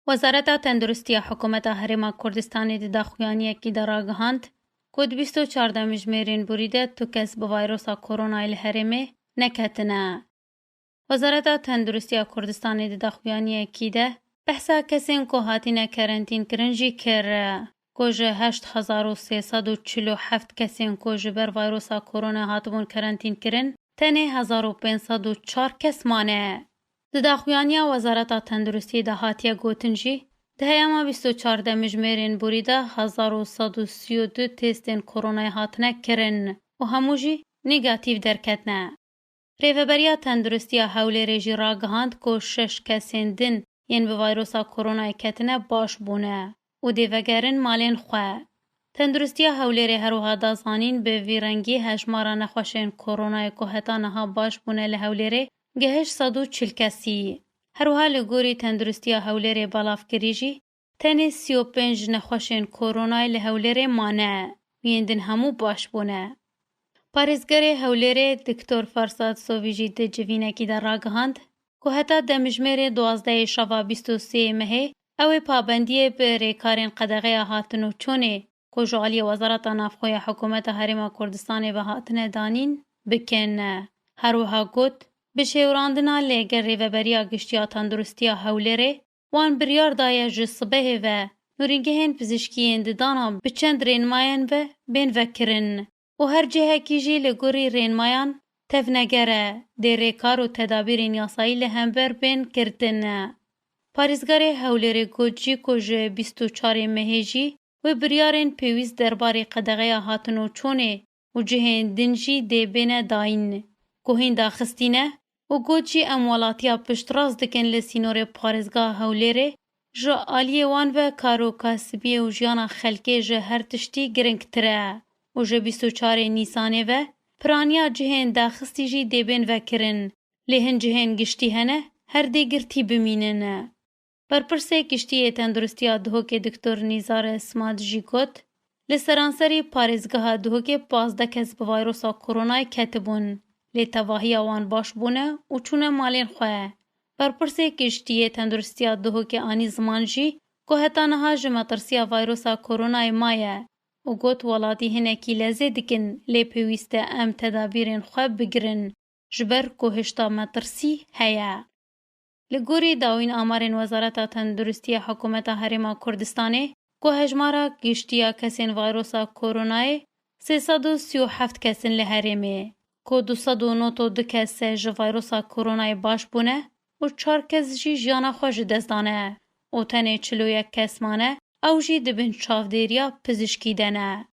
Wezareta Tenduristiya Hikûmeta Herêma Kurdistanê di daxuyaniyekî de ragihand ku di bîst û çar demjimêrên borî de tu kes bi vayrosa koronayê li herêmê neketine. Wezareta Tenduristiya Kurdistanê di daxuyaniyekî de behsa kesên ku hatine kerentînkirin jî kir. ku ji heşt hezar û sê sed û çil û heft kesên ku ji ber vayrosa koronê hatibûn karentînkirin, tenê hezar û pênc sed û çar kes mane. Di daxuyaniya Wezareta Tenduristiyê de hatiye gotin jî, di heyama bîst û çar de mijmêrên borî de hezar û sed û sî û du têstên koronayê hatine kirin û hemû jî negatîf derketine. Rêveberiya Tenduristiya Hewlêrê jî ragihand ku şeş kesên din yên bi vayrosa koronayê ketine baş bûne û dê vegerin malên xwe. Tenduristiya Hewlêrê her wiha da zanîn bi vî rengî hejmara nexweşên koronayê ku heta niha baş bûne li Hewlêrê gehişt sed û çil kesî. Her wiha li gorî Tenduristiya Hewlêrê belavkirî jî Tenê sî û pênc nexweşên koronayê li Hewlêrê mane, yên din hemû baş bûne. Parêzgerê Hewlêrê Diktor Farsad Sovî jî di civînekî de ragihand ku heta demjimêrê duwazdehê şeva bîst û sê yê mehê ew ê pabendiyê bi rêkarên qedexeya hatin û çûnê ku ji aliyê Wezareta Navxwe ya Hikûmeta Herêma Kurdistanê ve hatine danîn, bikin. Her wiha got, Bi şêwirandina li gel Rêveberiya Giştî ya Tenduristiya Hewlêrê, Wan biryar daye ji sibehê ve nûrîngehên pizîşkî yên di dana bi çend rênimayên ve bên vekirin û her cihekî jî li gorî rênimayan tevneger e dê rêkar û tedabîrên yasayî li hember bên girtin. Parêzgarê Hewlêrê got jî ku ji bîst û çarê mehê jî wê biryarên pêwîst derbarê qedeğeya hatinoçûnê û cihên din jî dê bêne dayîn ku hîn daxistî ne û got jî em welatiya piştrast dikin li sînorê parêzgeha Hewlêrê ji aliyê wan ve karo kasibiyê û jiyana xelkê ji her tiştî giringtir e û ji bîst û çar ê Nîsanê ve piraniya cihên daxistî jî dê bên vekirin lê hin cihên giştî hene her dê girtî bimînin. Berpirsê Kiştiyê Tenduristiya Duhokê Diktor Nîzar Simat jî got, Li seranserî parêzgeha Duhokê pazdeh kes bi vayrosa koronayê ketibûn, lê tevahiya wan baş bûne û çûne malên xwe. Berpirsê Kiştiyê Tenduristiya Duhokê anî ziman jî ku heta niha ji metirsiya vayrosa koronayê maye û got, Welatî hinekî lezê dikin lê pêwîst e em tedabîrên xwe bigirin ji ber ku hişta metirsî heye. Li gorî dawîn amarên Wezareta Tenduristî ya Hikûmeta Herêma Kurdistanê, ku hejmara giştî ya kesên vayrosa koronayê sê sed û sî û heft kes in li herêmê, ku du sed û not û du kes ji vayrosa koronayê baş bûne û çar kes jî jiyana xwe ji dest dane û tenê çil û yek kes mane ew jî di bin çavdêriya pizîşkî de ne.